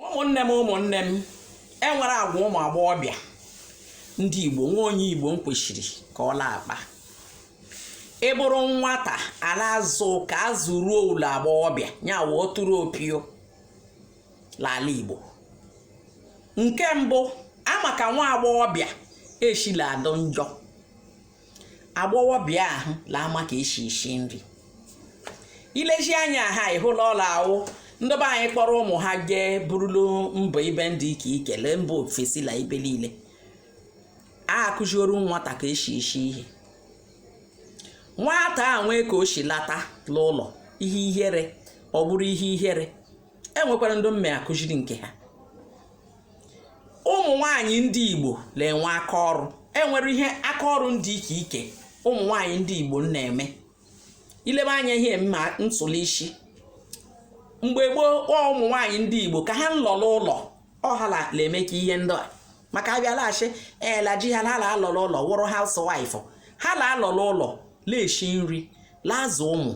ụmụnne m ụmụnne m enwere agwa ụmụ agbọghọbịa ndị igbo nwa onye igbo m kwesịrị ka ọ la-akpa ị bụrụ nwata a na-azụ ka azụ ruo ụlọ agbọghọbịa nya wụ ọtụrụ opio n'ala igbo nke mbụ ama ka nwa agbọghọbịa eshi la adụ njọ agbọghọbịa ahụ la ama ka eshi eshi nri ilezi anya ha ịhụla ọla awụ ndị be anyị kpọrọ ụmụ ha jee burulu mbọ ibe ndị ike ike la mba ofesi la ibe niile a akụzioro nwata ka eshi eshi ihe nwata a nwee ka o shi lata n'ụlọ ihe ihere ọ bụrụ ihe ihere enwekwara ndị mme akụziri nke ha ụmụ nwaanyị ndị Igbo na-enwe aka ọrụ enwere ihe aka ọrụ ndị ike ike ụmụ nwaanyị ndị Igbo na-eme ilebe anya ihe mma ntụli isi mgbe gboo ụmụ nwaanyị ndị Igbo ka ha nlọla ụlọ ọ ha la emeka ihe ndị a maka abịalaghachi ela ji ha la alọla ụlọ wụrụ housewife ha la alọla ụlọ la eshi nri la azụ ụmụ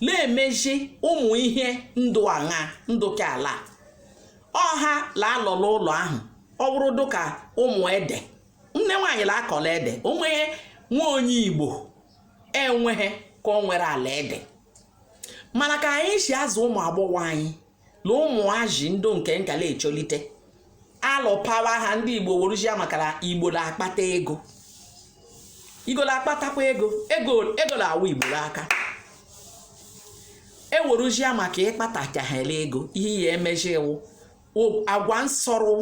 na-emezi ụmụ ihe ndụ aṅa ndụ ka ala ọ ha la alọla ụlọ ahụ ọ bụrụ dụka ụmụ ede nne nwaanyị la akọ ede onweghị nwa onye igbo enweghị ka o nwere ala ede mana ka anyị si azụ ụmụ agbọghọ anyị na ụmụazị ndị nke nka la echolite alụpawa ha ndị igbo weruzia maka la igbo na-akpata ego igbo na-akpatakwa ego ego na-awụ igbo n'aka eweruzia maka ịkpatachahela ego ihe ya emezi iwu agwa nsọrụ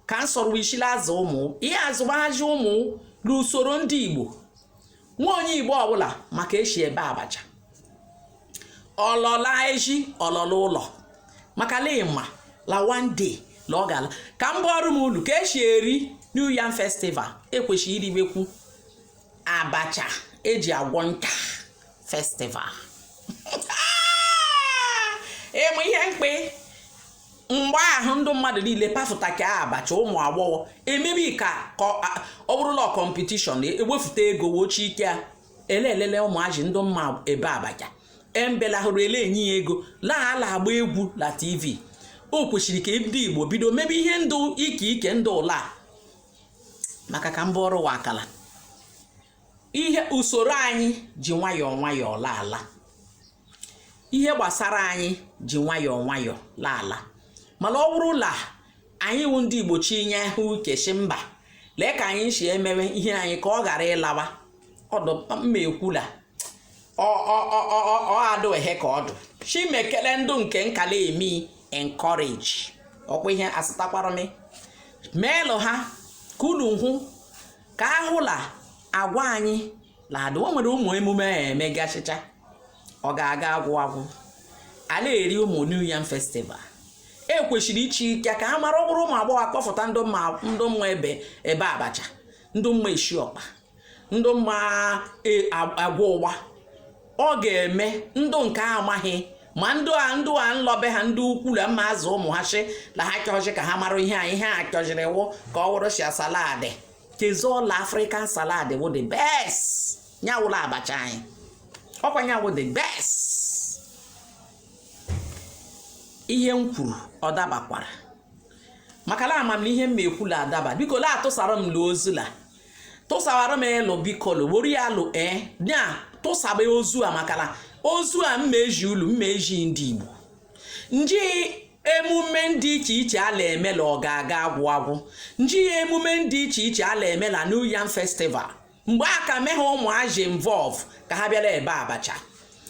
ka nsọrụ ishi la azụ ụmụ ihe azụgbahazi ụmụ n'usoro ndị igbo nwa onye igbo ọbụla ma ka eshi ebe abacha ọlọla ezi ọlọla ụlọ maka la ịma la one day la ọ ga-ala ka m ọrụ m ulu ka esi eri new yam festival ekwesịrị iribekwu abacha eji agwọ nka festival ime ihe mkpe mgbe ahụ ndụ mmadụ niile pafụtaka abacha ụmụ agbọghọ emere ka ọ bụrụ la kọmpetishọn ewefụta ego wochi ike a ele elele ụmụazị ndụ mma ebe abacha embela hụrụ ele enye ya ego la ala agba egwu la tv o kwesịrị ka ndị igbo bido mebe ihe ndụ ike ike ndụ ụla maka ka mba ọrụ wa akala ihe usoro anyị ji nwayọọ nwayọọ laala ihe gbasara anyị ji nwayọọ nwayọọ laala mana ọ wụrụ la anyị wụ ndị igbo chinyehụ aka shi mba lee ka anyị si emewe ihe anyị ka ọ ghara ịlawa ọ dụ m ma ekwu la ọ adụhe ka ọ dụ chimekele ndụ nke nka la-eme encourage ọkwa ihe asịtakwara m meelụ ha ka unu hụ ka a hụ la agwa anyị la-adụ o nwere ụmụ emume a emegasịcha ọ ga-aga agwụ agwụ a la-eri ụmụ new yam festival e kwesịrị ichi ike ka a mara ọ bụrụ ụmụ agbọghọ akpọfụta ndụ mma ebe abacha ndụ mma esi ọkpa ndụ mma e, a- agwọ ụgba ọ ga-eme ndụ nke amaghị ma ndụ a ndụ a nlọ be ha ndụ ukwu la mma azụ ụmụ ha shị la ha chọzi ka ha mara ihe a ihe a chọziri wụ ka ọ wụrụ shia salad kezola african salad wụ the best nya wụ la abacha anyị ọkwa nya wụ the best ihe m kwuru ọ dabakwara maka la ama m na ihe m ma ekwu la-adaba biko la-atụsara m la ozi la tụsawara m elu bikolo were ya alụ ee eh, na tụsaba ozi a maka la ozi a m ma ezi ulu m ma ezi ndị igbo nji emume ndị iche iche a la-eme la ọ ga-aga agwụ agwụ nji ya emume ndị iche iche a la-eme la New Yam Festival mgbe a ka mehe ụmụazị involve ka ha bịa la-ebe abacha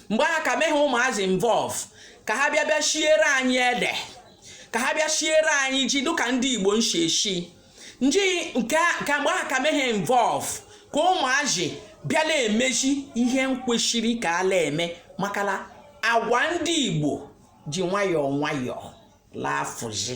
mgbe a ka mehe ụmụazị involve ka ha bịa bịa shiere anyị ede ka ha bịa shiere anyị ji dịka ndị Igbo nshi eshi nji nke ka mgbe a ka mehe involve ka ụmụazị bịa la-emezi ihe kwesịrị ka a la-eme maka la agwa ndị Igbo ji nwayọọ nwayọọ la-afụzi